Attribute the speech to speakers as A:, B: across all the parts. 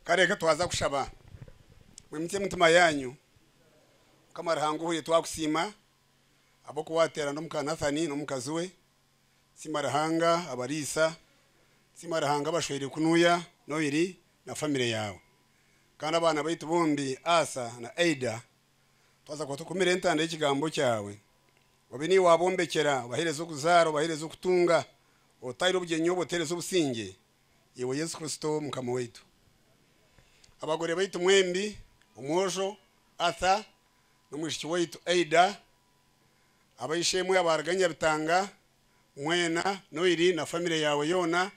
A: Ka reka twaza kushaba. Mwimutsye emitima yaanyu. Mukama Ruhanga ohwire twakusiima ahabw'oku waateerana omu ka Nathani n'omukazi we. Tusiima Ruhanga abariisa. Tusiima Ruhanga abashweire kunuya Noiri na famire yaawe. Kandi abaana baitu bombi Asa na Aida twaza kuba tukumire entanda y'Ekigambo kyawe. Obe niiwe waabombekyera, obaheereze okuzaara, obaheereze okutunga, otaaire obugyenyi obwo, oteereze obusingye. Iwe Yesu Kristo Mukama waitu. Abagore baitu mwembi, omwojo Arthur n'omwishiki waitu Ada, ab'eishe-emwe abaaruga Nyabitanga, mwena, Noiri na famire yaawe yoona,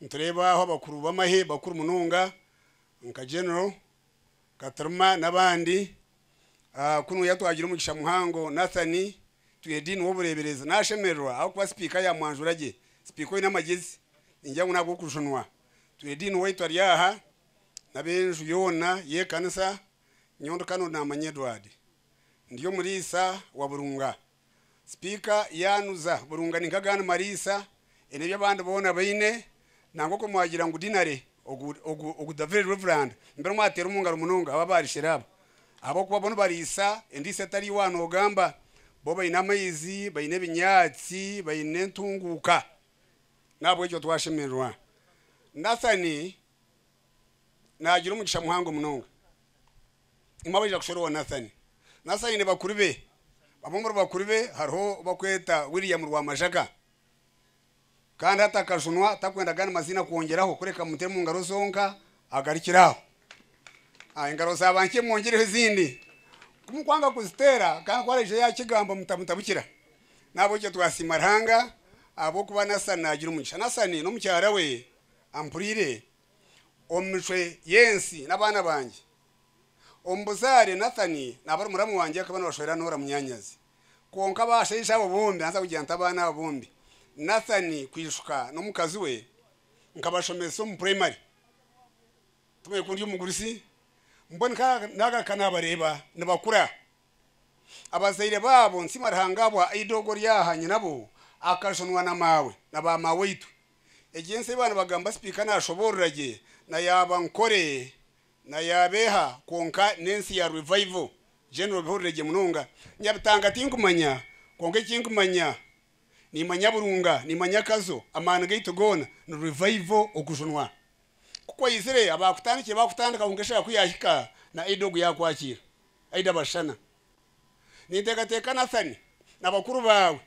A: nitureeba aho abakuru b'amahe bakuru munonga nka General Katrma n'abandi. Kunu yatwagire omugisha muhango Nathan Twedin w'obureeberezi. Naashemererwa ahabw'okuba sipiika yaamwanjura gye. Sipiika oine amagezi, ningira ngu n'ag'okujunwa. Twedin waitu ari aha, n'ab'enju yoona y'ekanisa. Nyowe ndi Canon Naamanya Edward. Ndi omuriisa wa Burunga. Sipiika yaanuza burunga ninka Gan Malisa ena ebi abandi boona baine nangwa okwe mwagira ngu dinari ogu ogu ogu the very reverend mbere mwateera omu ngaro munonga aba ba Rishera aba ahabw'okuba bo nibariisa endiisa etari wa noogamba bo baine amaizi baine ebinyaatsi baine entunguuka n'ahabw'ekyo twashemererwa Nathan naagira omugisha muhango munonga. Imwe abaija kushwera owa Nathani. Nathani aine bakuru be. Bamwe omuri bakuru be hariho ou barikweta William Rwamajaga. Kandi hati akajunwa tarikwenda agandi maziina kwongyeraho kureka amuteere omu ngaro zonka agarukire aho. Engaro za banki emwongyereho ezindi. Ku murikwanga kuziteera kandi ku araijayo yaakigamba mutamutabukira. N'ahabw'ekyo twasiima Ruhanga ahabw'okuba Nathani naagira omugisha. Nathani n'omukyara we. Ampuriire omu micwe y'ensi n'abaana bangye. Omu buzaare, Nathani naaba ari muramu wangye akaba nabashwera Nora munyaanyazi. Kwonka abashaija abo bombi, naza kugira nti abaana abo bombi, Nathani kwishuka n'omukazi we, nkabashomesa omu puraimari. Tumanye ku ndi omugurusi, mbwenu ka naagaruka naabareeba nibakura. Abazaire baabo nsiima Ruhanga ahabwa Aidogo Ryaha nyinabo akajunwa na maawe na baamaawe itwe. Egi ensi ei baanibagamba sipiika naashoboorora gye na ya bankore na ya beeha kwonka n'ensi ya Revival General bihurire gye munonga. Nyabitanga tinkumanya kwonka eki nkumanya niimanya Burunga, niimanya Kazo, amaani gaitu goona ni Revival okujunwa. Ku kwaizire abaakutandikire baakutandika kwonka eshaaha ku yaahika na Aida ogu yaakwakiira, Aida Bashana. Ninteekateeka Nathan na bakuru baawe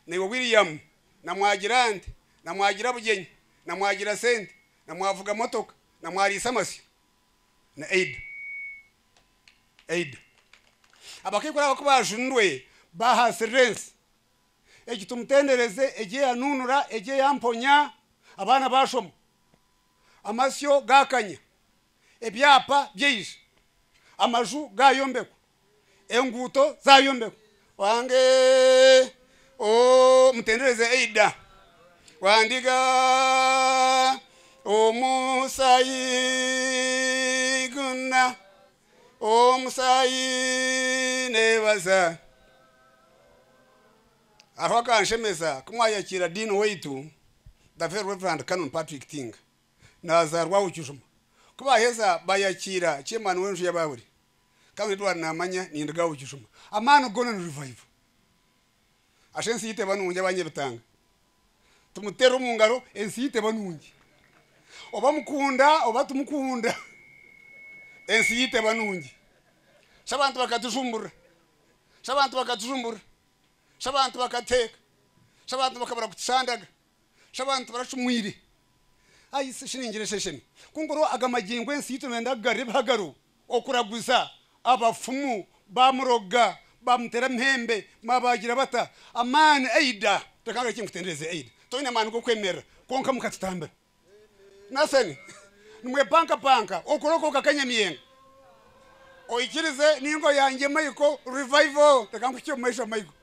A: naiwe William na mwagira nte, na mwagira bugyenyi, na mwagira sente, na mwavuga motoka, na mwariisa amasyo. Na Eida. Eida. Abakaikuru aba ku baajunirwe baahasirira ensi. Egi tumutendereze, egi eyanuunura, egi eyamponya, abaana baashoma, amasyo gaakanya, ebyapa byaija, amaju gayombekwa, enguuto zayombekwa, Wange ooh mutendereze Aidah wandiga omusaayi gwona omusaayi nebaza hariho akanshemeza kumwayakiira Dean waitu the very reverend Canon Patrick Tinga. nazaarwaho kijuma. Ku baaheza baayakiira Chemani w'enju ya Bawuli, kandi reero ari naamanya nindigaho kijuma. Amaani goona ni rivaivo. Asha ensi y'eiteba nungi abanyebitanga. Timuteera omu ngaro, ensi y'eiteba nungi. Oba mukunda oba timukunda, ensi y'eiteba nungi. Shi abantu bakatujumburira, shi abantu bakatujumburira, shi abantu bakateeka, shi abantu bakabura kutushandaga. Shi abantu baracumwire? Ai shi ningira esheshemi ku nkora aga magingo ensi yitu nenda kugarura ebihagaro, okuraguza, abafumu, bamuroga, bamutera amahembe, babagira bata, amaani aida, reka ngire eki nkutendereze, aida, toyine amaani gokwemerera kwonka mukatutambira. Nothing. Nimwepankapanka okora oku okakanyamiyenga. Oikirize ninga oyangye Michael revival, reka nkuhikye omumaisho Michael.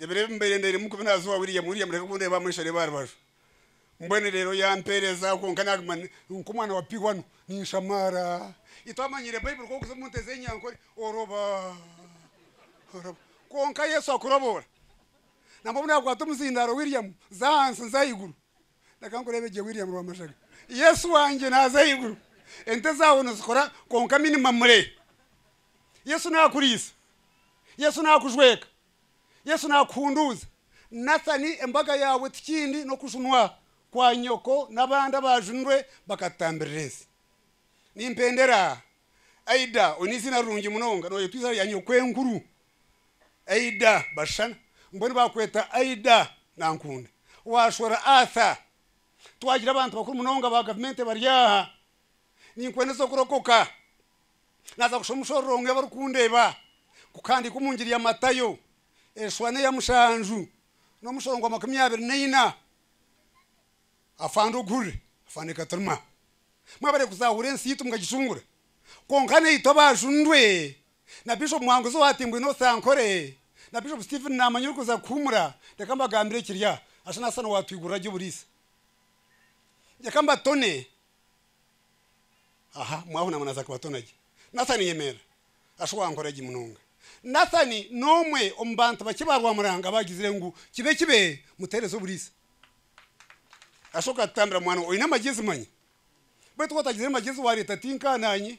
A: Ebiro ebi mbaire ndeeremu kubi naaza owa William, William reka kundeeba amu aisha reeba aha rubaju. Mbwenu reero yampeereza kwonka naaguma nk'omwana wa pihwa nu ninshamaara. Itwamanyiire Baiburi ku okuza omu nte z'enyankore oroba oroba kwonka Yesu akuroboora. Nambwa obu naakwata omuzindaaro William za ahansi nza ahaiguru. Reka nkureebe gye William Rwamashaga. Yesu wangye naaza ahaiguru. Ente zaawe nizikora kwonka minimum re. Yesu naakuriisa. Yesu naakujweka. Yesu naakuhunduuza. Nathani, embaga yaawe tikindi n'okujunwa kwa nyoko n'abandi abaajunirwe bakatutambirira ensi. Nimpendera Aida, oine eiziina rirungi munonga, nooyetwa eiziina rya nyokwenkuru Aida Bashana, mbwenu baakweta Aida Nankunda. Waashwera Arthur, twagira abantu bakuru munonga ba gavumenti bari aha. Ninkwendeza kurokoka. Naaza kushoma omushororongo Ebi Orikundeeba ku kuhandiikwa omu Njiri ya Matayo, Eshuha n'eya mushanju n'omushoro gwa makumi abiri na ina. Afande Oguhurire, Afande Katuruma, mwabaire kuzaahura ensi yaitu mukagicungura, kwonka naitwe abaajundwe na Bishop Muhanguzi owa Timbwa Enosi Ankore na Bishop Stephen Naamanya orikuza kuhuumura, reka mbagambire ekiri aha, Asana Asana owaatwigurira gye oburiisa. Reka mbatone. Aha, mwahuna muna za Kibaatona gye. Nathani yemerera. Ashu wankora gi munonga. Nathani n'omwe omu bantu bakye ba Rwamuranga abagizire ngu kibe kibe mutereza oburiisa. Ashu okatutambira mwana oine amagyezi manya. Baitu watagizire magyezi wareta tinka nanye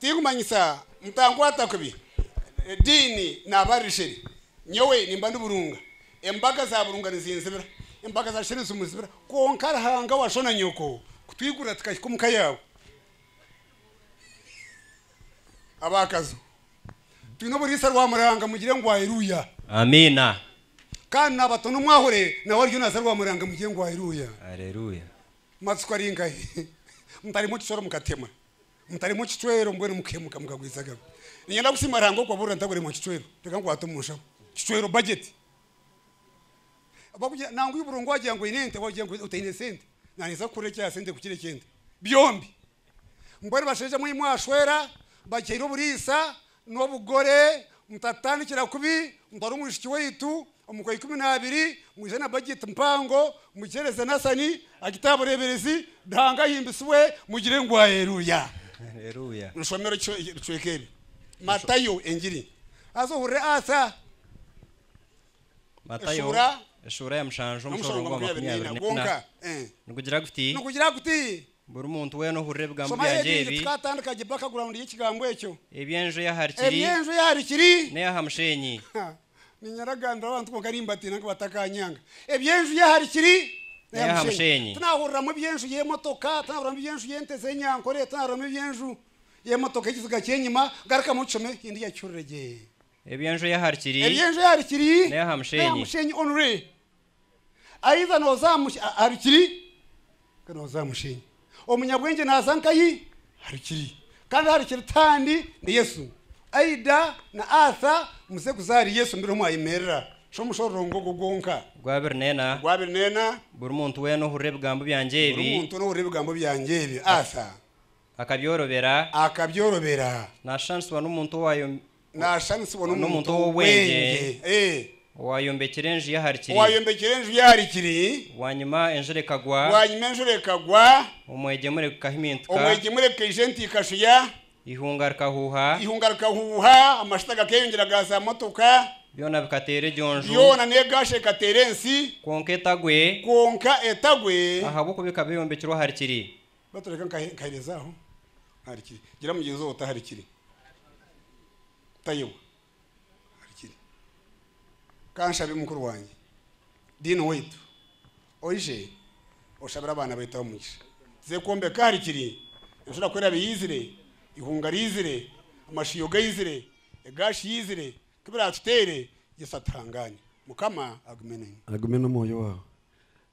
A: Tinkumanyisa, mutankwata kubi, Dean naaba ari Sheri. Nyowe nimba ndi Burunga. Embaga za Burunga nizinzibira. Embaga za Sheri nizimuzibira. Kwonka Ruhanga wa sho na nyoko kutwigurira tukahika omu ka yaabo. Abaakazo, twine oburiisa rwa muranga mugire ngu Airuuya! Amiina! Kandi naabatona omwahure nawe ariyo naaza rwa muranga mugire ngu Airuuya! Areruuya! Matsiko ari nkahi? Mutaremwa ekisoro mukatemwa, mutaremwa ekicwero mbwenu mukihemuka mukagwiza agabi. Ninyenda kusiima Ruhanga okubaburira ntakuremwa kicwero. Reka nkwate omu nshaho. Kicwero budget. Bakugira nangwa iburongo wagira ngu oyine ente wagira ngu otayine sente. Nanyetsa kukora ekya sente kukira eky'ente. Byombi. Mbwenu bashaija mwe mwashwera, bagihaire oburiisa, N'obugore, mutatandikira kubi, mutware omwishiki waitu omu kwa ikumi n'abiri, mwije na bajeti mpango, mugihereze Nathani agite aha bureeberezi, Ruhanga ahimbisibwe, mugire ngu Aleeruya. Aleeruya. Nitushomera ebicweka ebi, Matayo, Engiri. Haza ohurire Arthur. Matayo, eshuura ya mushanju, omushoro gwa makumi abiri n'ena, nigugira guti. Buri muntu weena ohurira ebigambo Shomayo byangye ebindi ebi, tukaatandika gye bakaguraawundi y'ekigambo ekyo. eby'enju ey'ahari kiri Eby'enju ey'ahari kiri. n'ey'aha musheenyi. Ha, niinyaragambira abantu kwonka nimbatiina ngu batakaanyanga. Eby'enju y'ahari kiri n'ey'aha musheenyi. Tinaahuriramu eby'enju y'emotoka, tinaahuriramu eby'enju y'ente z'enyankore, tinaahuriramu eby'enju y'emotoka y'ekiziga ky'enyima. Garukamu oshome endiijo akihurire gye. Eby'enju ey'ahari kiri Eby'enju ey'ahari kiri n'ey'aha n'ey'aha musheenyi. musheenyi only. Aiza noza harikiri nka noza mushenyi omunyabwengye naza nkayi harikiri kandi harikiri tihandi ni yesu aida na atha muze kuza ahari yesu mbiro mwayemerera sho omushororongo ogwo gwonka gwa abiri nena gwa abiri nena buri muntu wena ohurira ebigambo byangye ebi buri muntu wena ohurira ebigambo byangye ebi atha akabyorobera akabyorobera nashushanyisibwa nomuntu naashushanisibwa n'omuntu ow'obwengye owaayombekire enju ye ahari kiri. Owaayombekire enju ye ahari kiri. Bwanyima enjura ekagwa. Bwanyima enjura ekagwa. Omwegyemure gukahimintika. Omwegyemure gukaija enti ikashuya. Eihunga rikahuuha. Eihunga rikahuuha, amashuta gakeeyongyera ga zaamotoka. Byona bikateera egyo nju. Byona n'egaasha ekateera ensi. Kwonka etagwe. Kwonka etagwe. Ahabw'okuba ekaba eyombekirwe ahari kiri. Batu reka nkahereze aho aharikiri. Gira mugyenzi wawe oti aharikiri. Tayowa aharikiri. Ka nshabe mukuru wangye, Dean waitu, oije oshabire abaana baitu aho omugisha. Tuze kwombeka aharikiri. Enshura kwerabe eizire, eihunga riizire, amashiiho gaizire, egaashi yeizire, nka ebi raatuteire, Yesu atuhangaane. Mukama agume nainywe. Agume n'omwoyo waawe.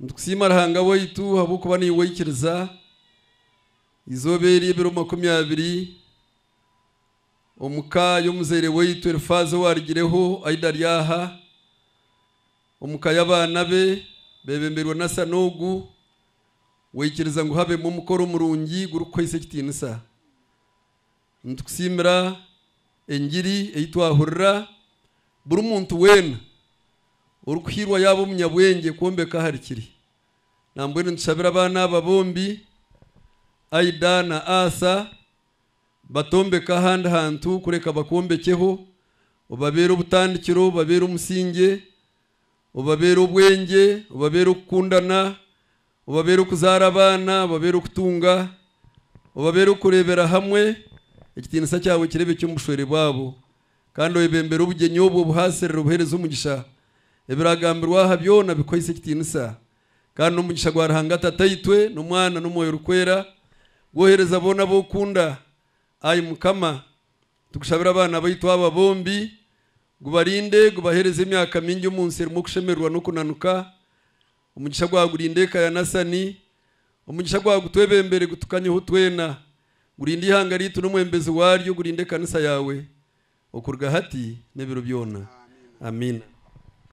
A: Nitukusiima Ruhanga waitu ahabw'okuba niiwe oikiriza eizooba eri ebiro makumi abiri omu ka y'omuzaire waitu Elifaazi owaarigireho aida ari aha, omu ka y'abaana be beebemberwe n'Asani ogu waikiriza ngu habemu omukoro murungi gurikukuhaisa ekitiinisa. Nitukusiimira engiri ei twahurira. Buri muntu weena orikuhairwa yaaba omunyabwengye kwombeka ahari kiri. Nambwenu nitushabira abaana aba bombi, Aida na Asa, batombeke ahandi hantu kureka bakwombekyeho, obabeere obutandikiro, obabeere omusingye. obabeere obwengye, obabeere okukundana, obabeere okuzaara abaana, obabeere okutunga, obabeere okureebera hamwe, ekitiinisa kyawe kireebekye omu bushwere bwabo, kandi obebembere obugyenyi obwo buhaasirire obuheereze omugisha. Ebiragambirwe aha byona bikuhaise ekitiinisa, kandi n'omugisha gwa Ruhanga Tataitwe, n'Omwana, n'Omwoyo Orikwera, gwohereza boona abu okunda, ai Mukama. Tukushabira abaana baitu aba bombi, gubarinde gubahereze emyaka mingi omu nsi erimu okushemererwa n'okunanuka. Omugisha gwawe gurinde eka ya Nasani. Omugisha gwawe gutwebembere gutukanyeho twena. Gurinde ihanga ryaitu n'omwembezi waryo, gurinde ekanisa yaawe okuruga hati n'ebiro byona. Amiina.